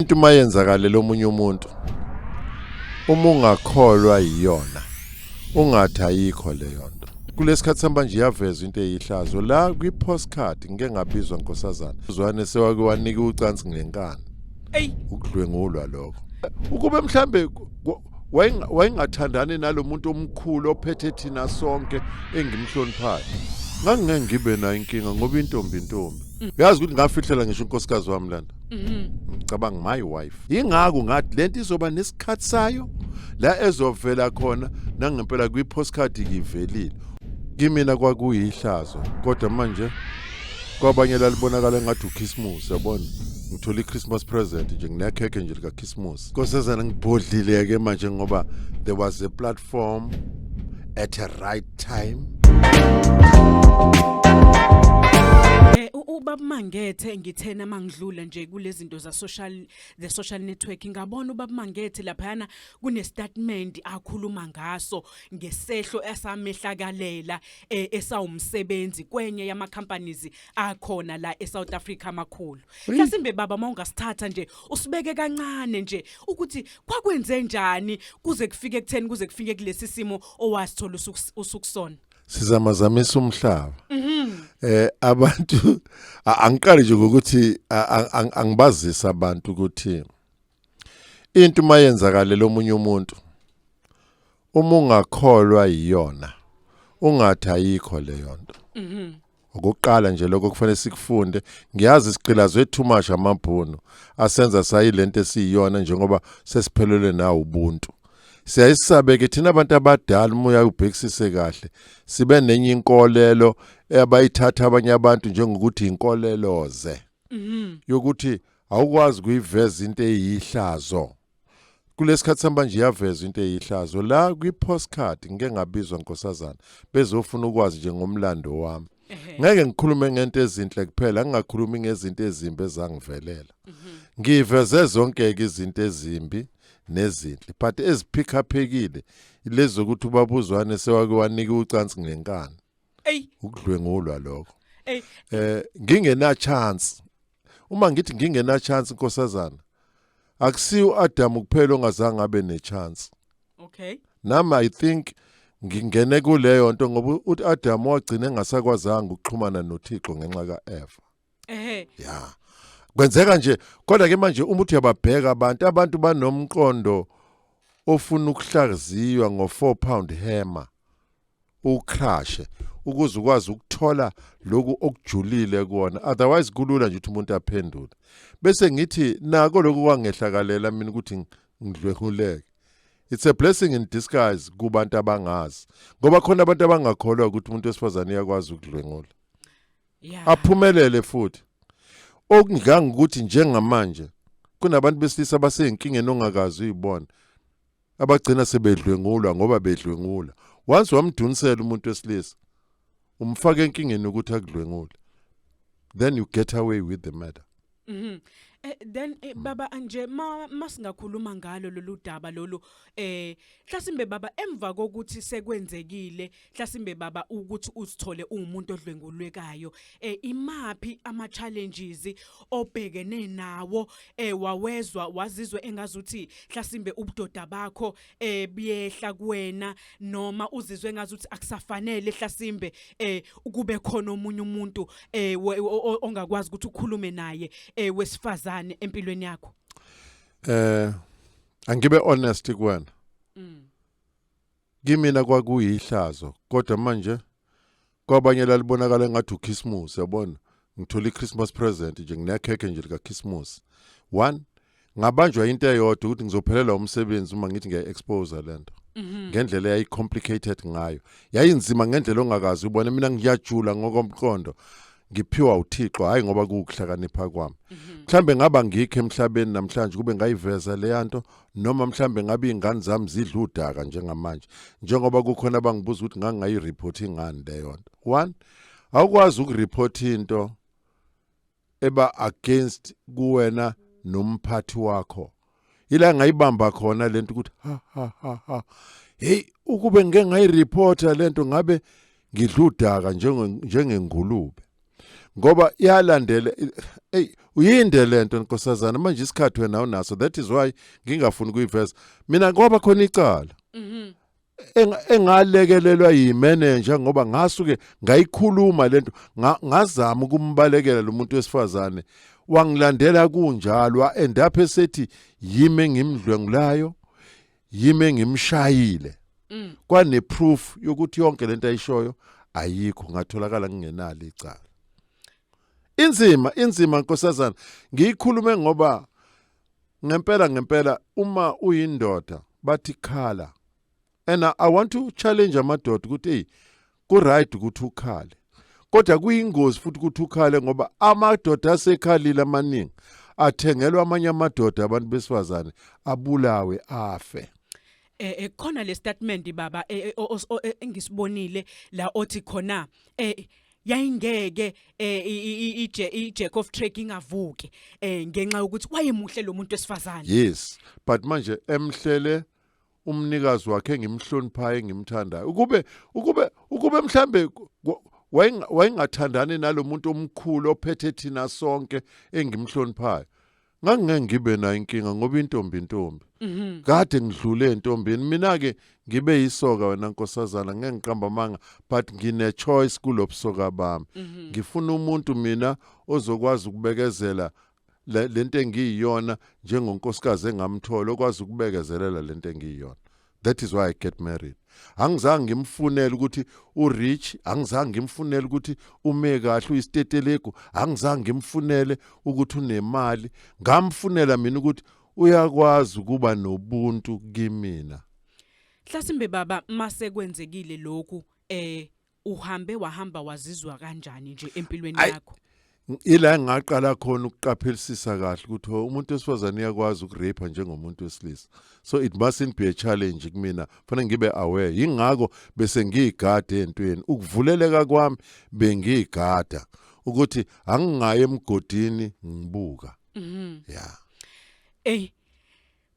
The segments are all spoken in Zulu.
into uma yenzakalela omunye umuntu uma ungakholwa yiyona ungathi ayikho leyo nto kulesikhathi samba nje yaveza into eyihlazo la kwi postcard ngeke ngabizwa nkosazana uzwane sewake wanika ucansi ngenkani ey ukudlwengulwa lokho ukube mhlambe wayengathandani nalomuntu omkhulu ophethe thina sonke engimhloniphayo ngangingeke ngibe nayo inkinga ngoba intombi intombi mm. yazi ukuthi ngafihlela ngisho unkosikazi wami lana Mhm. ngicabanga my wife yingakho ngathi lento izoba nesikhathi sayo la ezovela khona nangempela kwi-postcard ngivelile kimina kwakuyihlazo kodwa manje kwabanye lalibonakala ngathi ukhisimusi yabona ngithola i-christmas present nje nginekhekhe nje likakhisimusi kosezana ngibhodlile-ke manje ngoba there was a platform at a right time Eh ubabumangethe ngithena mangidlula nje kulezinto za social the social network ngabona ubabumangethe laphana kune statement akhuluma ngaso ngesehlo esamehlakalela eh, esawumsebenzi kwenye yama companies akhona la eSouth Africa makhulu mhlasimbe baba mawungasithatha nje usibeke kancane nje ukuthi kwakwenze njani kuze kufike kutheni kuze kufike kulesi simo owasithola usuku- usukusona sizamazamisa umhlaba eh abantu a- angiqali nje ngokuthi a- a- ang- angibazisa abantu ukuthi into uma yenzakalela omunye umuntu uma ungakholwa yiyona ungathi ayikho leyo nto mhm. ukuqala nje lokho kufanele sikufunde ngiyazi siqilazwe too much amabhunu asenza sayilento esiyiyona njengoba sesiphelelwe nawo ubuntu siyayisabe ke thina abantu abadala umoya ubhekisise kahle sibe nenye inkolelo abayithatha abanye abantu njengokuthi inkoleloze mhm. yokuthi awukwazi ukuyiveza into eyihlazo kulesikhathi samanje iyavezwa into eyihlazo la kwi postcard ngike ngabizwa nkosazana bezofuna ukwazi nje ngomlando wami ngeke ngikhulume ngento ezinhle kuphela ngingakhulumi ngezinto ezimbi ezangivelela mhm. ngiveze zonke izinto ezimbi nezinhle but eziphikhaphekile lezi zokuthi ubabuzwane sewake wanika ucansi ngenkani ukudlwengulwa lokho eh ngingena chance Uma ngithi ngingena chance nkosazana akusiyo uAdam kuphela ongazange abe ne chance. Okay. Nami I think ngingene kuleyo nto ngoba uAdam wagcina engasakwazanga ukuxhumana noThixo ngenxa kaEva. Ehhe. Ya. Kwenzeka nje kodwa ke manje uma uthi uyababheka abantu abantu banomqondo ofuna ukuhlaziywa ngo 4 pound hammer. ucrashe ukuze ukwazi ukuthola lokhu okujulile kuona otherwise kulula nje ukuthi umuntu aphendule bese ngithi nako lokhu kwangehlakalela mina ukuthi ngidlwehuleke it's a blessing in disguise kubantu abangazi ngoba khona abantu abangakholwa ukuthi umuntu wesifazane uyakwazi ukudlwengula yeah. aphumelele futhi okunganga ukuthi njengamanje kunabantu besilisa baseyinkingeni ongakazi uyibona abagcina sebedlwengulwa ngoba bedlwengula once wamdunisela umuntu wesilisa umfaka enkingeni ukuthi akudlwengule then you get away with the matter mhm Eh, then eh, hmm. baba anje ma masingakhuluma ngalo lolu daba lolu eh mhlasimbe baba emva kokuthi sekwenzekile Hlasimbe baba ukuthi uzithole ungumuntu odlwengulwekayo eh imaphi ama challenges obhekene nawo eh wawezwa wazizwe engazuthi hlasimbe ubudoda bakho eh biyehla kuwena noma uzizwe engazuthi akusafanele hlasimbe eh ukube khona omunye umuntu eh ongakwazi ukuthi ukhulume naye eh wesifazane empilweni yakho eh angibe honest kuwena mm. Kimina kwakuyihlazo kodwa manje kwabanye lalibonakala ngathi ukhisimusi yabona ngithola i-christmas present nje nginekhekhe nje likakhisimusi one ngabanjwa into eyodwa ukuthi ngizophelelwa umsebenzi uma ngithi ngiyayi-expose le nto mhm. ngendlela yayi-complicated ngayo yayinzima ngendlela ongakazi ubone mina ngiyajula ngokomqondo ngiphiwa uThixo hayi ngoba kukuhlakanipha kwami mhm. mhlambe ngaba ngikho emhlabeni namhlanje kube ngayiveza leyanto noma mhlambe ngabe ingane zami zidla udaka njengamanje njengoba kukhona abangibuza ukuthi ngangayi report ingane leyo nto one awukwazi ukureport into eba against kuwena nomphathi wakho ila ngayibamba khona lento ukuthi ha ha ha ha hey ukube ngeke ngayireporta lento ngabe ngidludaka njengengulube ngoba iyalandela hey uyinde lento nkosazana manje isikhathi wena unaso that is why ngingafuni kuyiveza mina ngoba khona icala mhm engalekelelwa yimenenja ngoba ngasuke ngayikhuluma lento ngazama ukumbalekela lo muntu wesifazane wangilandela kunjalo endaphe sethi yime ngimdlwengulayo yime ngimshayile mm. kwane proof yokuthi yonke lento ayishoyo ayikho ngatholakala ngingenalo icala inzima inzima nkosazana ngiyikhulume ngoba ngempela ngempela uma uyindoda bathi khala and i want to challenge amadoda ukuthi hey ku right ukuthi ukhale kodwa kuyingozi futhi ukuthi ukhale ngoba amadoda asekhalile amaningi athengelwa amanye amadoda abantu besifazane abulawe afe eh, eh khona le statement baba eh, eh, engisibonile la othi khona eh yayingeke eh, i- i- i- ije- ijack of track ingavuki um ngenxa yokuthi wayemuhle lo muntu wesifazane yes but manje emhlele umnikazi wakhe engimhloniphayo engimthandayo ukube ukube ukube mhlambe ku- ku- wayenga- wayengathandani nalomuntu omkhulu ophethe thina sonke engimhloniphayo ngangingeke ngibe nayo inkinga ngoba intombi intombi Mhm. kade ngidlule entombini mina ke ngibe yisoka wena nkosazana ngeke ngiqamba amanga but ngine choice kulobusoka bami Mhm. ngifuna umuntu mina ozokwazi ukubekezela le- lento engiyiyona njengonkosikazi engamthola okwazi ukubekezelela lento engiyiyona that is why i get married angizange ngimfunele ukuthi urich angizange ngimfunele ukuthi ume kahle uyisitetelegu angizange ngimfunele ukuthi unemali ngamfunela mina ukuthi uyakwazi ukuba nobuntu kimina mhlasimbe baba mase kwenzekile lokhu eh uhambe wahamba wazizwa kanjani nje empilweni Ay- yakho ila engaqala khona ukuqaphelisisa kahle ukuthi ho, umuntu wesifazane uyakwazi ukurape njengomuntu wesilisa so it mustn't be a challenge kumina fanele ngibe aware yingakho bese ngiyigade entweni ukuvuleleka kwami bengiyigada ukuthi angingayi emgodini ngibuka Mhm. yeah ey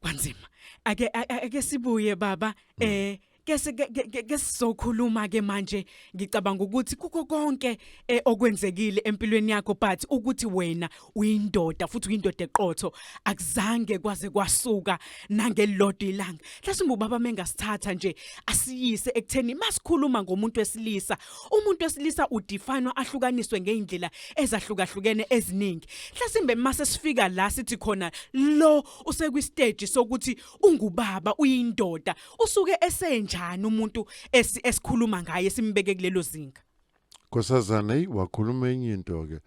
kwanzima ake a- a- ake sibuye baba eh ke si- ke- ke- ke- ke sizokhuluma ke manje ngicabanga ukuthi kukho konke eh, okwenzekile empilweni yakho but ukuthi wena uyindoda futhi uyindoda eqotho akuzange kwaze kwasuka nangelilodwa ilanga hlasimbe ubaba mengasithatha nje asiyise ekutheni masikhuluma ngomuntu wesilisa umuntu wesilisa udefinwa ahlukaniswe ngeindlela ezahlukahlukene eziningi hlasimbe mase sifika la sithi khona lo usekwisteji sokuthi ungubaba uyindoda usuke esenjani umuntu esikhuluma ngaye simbeke kulelo zinga Nkosazana hey wakhuluma enye into ke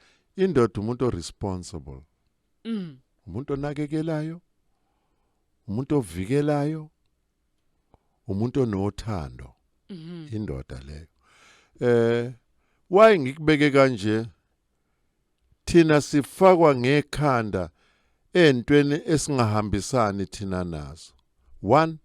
indoda umuntu oresponsible mm umuntu onakekelayo umuntu ovikelayo umuntu onothando mhm. indoda leyo eh why ngikubeke kanje Thina sifakwa ngekhanda entweni esingahambisani thina nazo. One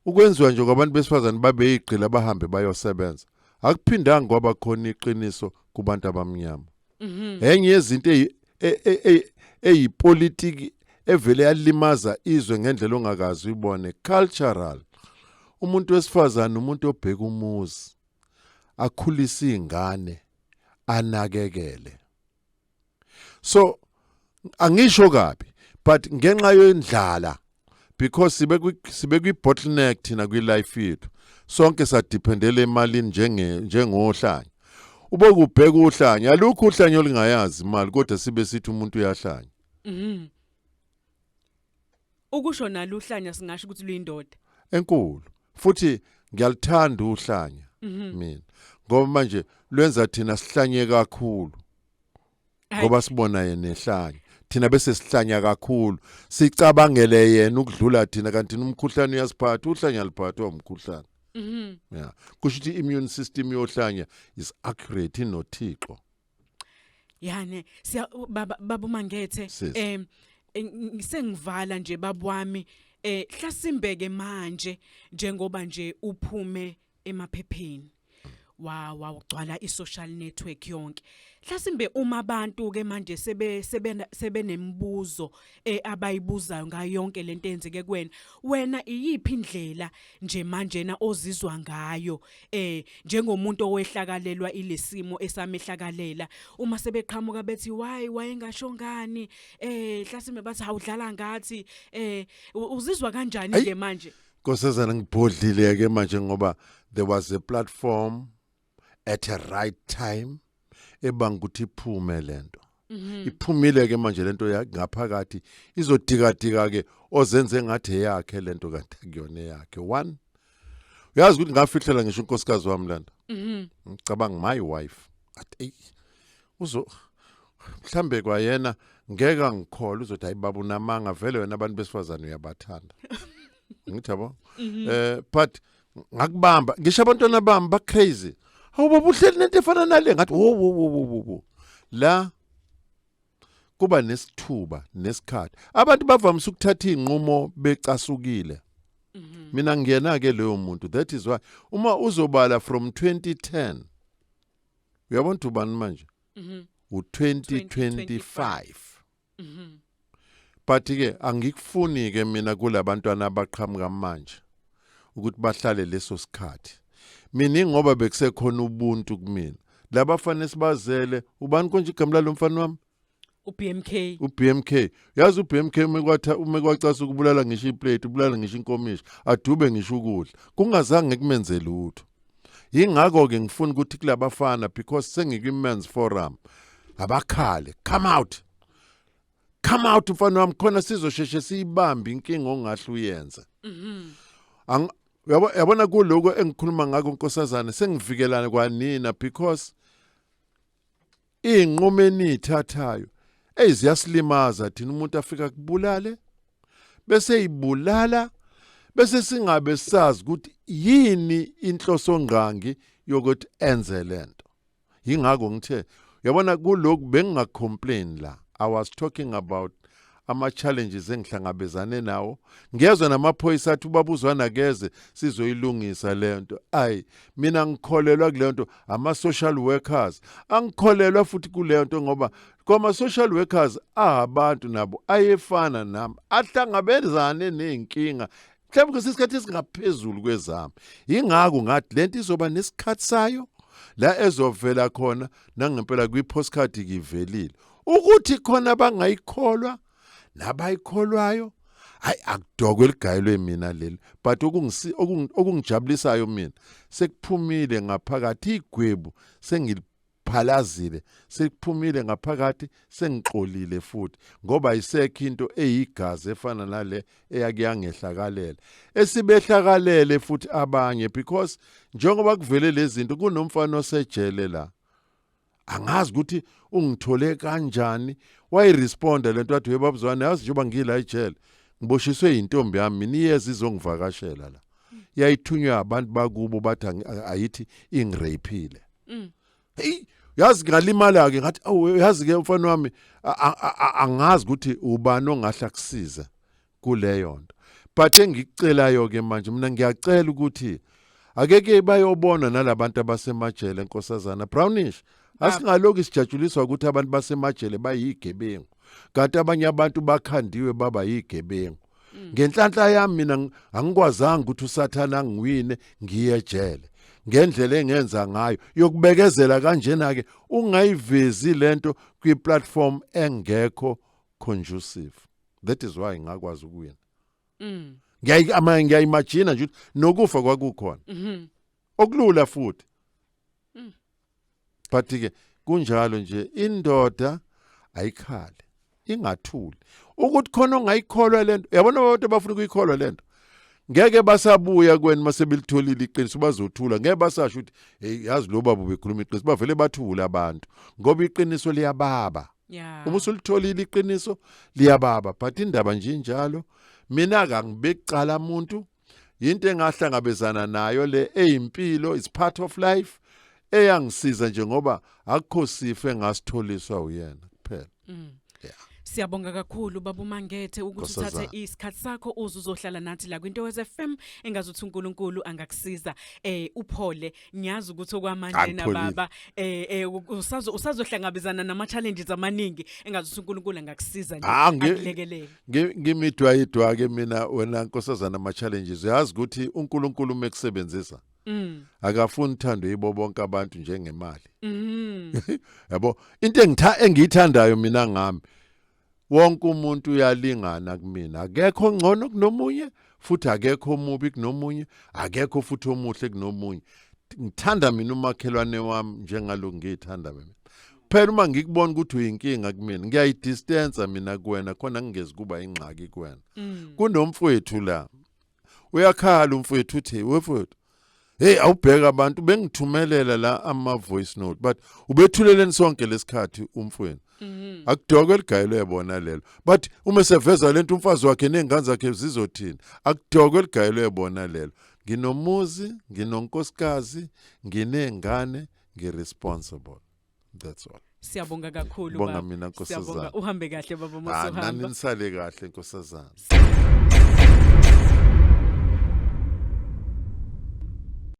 ukwenziwa nje kwabantu besifazane babeyigqila bahambe bayosebenza akuphindanga kwaba khona iqiniso kubantu abamnyama mhm. enye yezinto e, e, e, eyipolitiki evele yalimaza izwe ngendlela ongakazi uyibone cultural umuntu wesifazane umuntu obheka umuzi akhulise izingane anakekele so angisho kabi but ngenxa yendlala because sibe sibe kwi bottleneck thina kwi life yethu sonke sadependela emalini njenge njengohlanya ube kubheka uhlanya alukho uhlanya olingayazi imali kodwa sibe sithi umuntu uyahlanya mhm. Ukusho nalo uhlanya singasho ukuthi luyindoda. Enkulu. Futhi ngiyaluthanda uhlanya mhm. mina. Ngoba manje lwenza thina sihlanye kakhulu. Ngoba sibona yena ehlanya. Thina bese sihlanya kakhulu. Sicabangele yena ukudlula thina kanti umkhuhlane uyasiphatha, uhlanya liphathwa umkhuhlane. Mhm. Yeah. Kusho ukuthi immune system yohlanya is accurate inothixo. yani siya baba babu mangethe Sis. em eng- sengivala nje babwami eh hlasimbeke manje njengoba nje uphume emaphepheni wa wa ugcwala isocial network yonke hlasimbe uma abantu ke manje sebe sebe sebenemibuzo eh, abayibuzayo ngayo yonke lento eyenzeke kuwena wena iyiphi indlela nje manjena ozizwa ngayo eh njengomuntu owehlakalelwa ilesimo esamehlakalela uma sebeqhamuka bethi why wayengasho ngani eh hlasimbe bathi hawudlala ngathi eh u- uzizwa kanjani Ayi. ke manje Nkosazana ngibhodlile ke manje ngoba there was a platform at a right time ebanga ukuthi iphume lento mhm. iphumile ke manje lento ngaphakathi izodikadika ke ozenze ngathi eyakhe lento kanti kuyona yakhe one uyazi ukuthi ngafihlela ngisho unkosikazi wami lento mhm. ngicabanga my wife athi uzo mhlambe kwayena ngeke angikholwe uzothi ayibaba unamanga vele wena abantu besifazane uyabathanda ngithi yabo mhm. eh but ngakubamba ngisho abantwana bami bacrazy hawu baba uhleli nento efana nale ngathi wo wo wo wo wo la kuba nesithuba nesikhathi abantu bavamise ukuthatha izinqumo becasukile mhm. mina ngiyena ke leyo muntu that is why uma uzobala from 2010 uyabona ubani manje mhm. u 2025 Mhm. But ke angikufuni ke mina kulabantwana abaqhamuka manje ukuthi bahlale leso sikhathi. Mina ngoba bekusekhona ubuntu kumina. Labafana sibazele ubani konje igama lalomfana wami? uBMK uBMK yazi uBMK umekwatha umekwacasa ukubulala ngisho iplate ubulala ngisho inkomishi adube ngisho ukudla kungazange kumenzele utho yingakho ke ngifuna ukuthi kulabafana because sengikwi men's forum abakhale come out come out mfana wami khona sizosheshe siyibambe inkinga ongahle uyenze mhm yabo yabona kuloko engikhuluma ngako nkosazana sengivikelana kwanina because Iy'nqumo eniy'thathayo eyi ziyasilimaza thina umuntu afika kubulale bese ibulala bese singabe sazi ukuthi yini inhloso ngqangi yokuthi enze lento yingakho ngithe yabona kulokhu bengingacomplain la i was talking about ama-challenges engihlangabezane nawo ngezwe namaphoyisa athi ubabuzwana akeze sizoyilungisa le nto ayi mina ngikholelwa kule nto ama-social workers angikholelwa futhi kule nto ngoba kwama-social workers ahabantu nabo ayefana nami ahlangabezane ney'nkinga mhlawumbe kwesinye isikhathi esingaphezulu kwezami yingakho ngathi le nto izoba nesikhathi sayo la ezovela khona nangempela kwi-postcard kivelile ukuthi khona abangayikholwa nabayikholwayo hayi akudokwe ligayelwe mina leli but okungijabulisayo mina sekuphumile ngaphakathi igwebu sengiliphalazile sekuphumile ngaphakathi sengixolile futhi ngoba isekho into eyigazi efana nale eyakuyangehlakalela esibehlakalele futhi abanye because njengoba kuvele lezi zinto kunomfana osejele la angazi ukuthi ungithole kanjani wayiresponda lento wathi we babuzwane yazi njengoba ngila ejele ngiboshiswe yintombi yami mina iyeza izongivakashela la yayithunywa abantu bakubo bathi ayithi ingiraphile mm. hey yazi ngalimala ke ngathi awu yazi ke mfana wami angazi ukuthi ubani ongahle akusiza kuleyo nto but engikucelayo ke manje mina ngiyacela ukuthi akeke bayobona nalabantu abasemajele nkosazana brownish asingalokhu sijatshuliswa ukuthi abantu basemajele bayigebengu kanti abanye abantu bakhandiwe baba yigebengu mm. ngenhlanhla yami mina angikwazanga ukuthi usathana angiwine ngiye ejele ngendlela engenza ngayo yokubekezela kanjena ke ungayivezi lento kwi platform engekho conducive that is why ngakwazi ukuwina mm ngiyayi ama ngiyayimagina nje nokufa kwakukhona mhm okulula futhi mm. but ke kunjalo nje indoda ayikhale ingathuli ukuthi khona ongayikholwa lento yabona abantu abafuna ukuyikholwa lento ngeke basabuya kweni masebelitholile iqiniso bazothula ngeke basasho ukuthi hey yazi lo baba ubekhuluma iqiniso bavele bathule abantu ngoba iqiniso liyababa yeah. uma usulitholile iqiniso liyababa but indaba nje injalo mina kangibekucala umuntu yinto engahlangabezana nayo le eyimpilo is part of life eyangisiza nje ngoba akukho sifo engasitholiswa uyena kuphela mm. yeah. Siyabonga kakhulu baba uMangethe ukuthi uthathe isikhathi sakho uze uzohlala nathi la kwinto weZFM engazuthi uNkulunkulu angakusiza eh uphole ngiyazi ukuthi okwamanje na Angipholile. baba eh eh, usazo usazohlangabezana nama challenges amaningi engazi ukuthi uNkulunkulu angakusiza nje Ah, ngi- akulekelele Ngi- ngimidwayidwa ke mina wena nkosazana ama challenges uyazi ukuthi uNkulunkulu mekusebenzisa mm akafuni uthando yibo bonke abantu njengemali mm yabo into engitha engiyithandayo mina ngami Wonke umuntu uyalingana kumina, akekho ongcono kunomunye futhi akekho omubi kunomunye, akekho futhi omuhle kunomunye. Ngithanda mina umakhelwane wami njengalo ngiyithanda mina. Phela uma ngikubona ukuthi uyinkinga kumina, ngiyayidistansa mina kuwena khona ngingezi kuba ingxaki kuwena. Mm. Kunomfowethu la uyakhala umfowethu uthi wefowethu hey awubheka abantu bengithumelela la ama voice note but ubethuleleni sonke lesikhathi umfweni mhm. akudokwe ligayelo yabona lelo but uma seveza lento umfazi wakhe nezingane zakhe zizothini akudokwe ligayelo yabona lelo nginomuzi nginonkosikazi nginezingane ngiresponsible that's all siyabonga kakhulu bonga baba. mina Siyabonga. nkosazana uhambe kahle baba Ah, nani mosuhamba nisale kahle nkosazana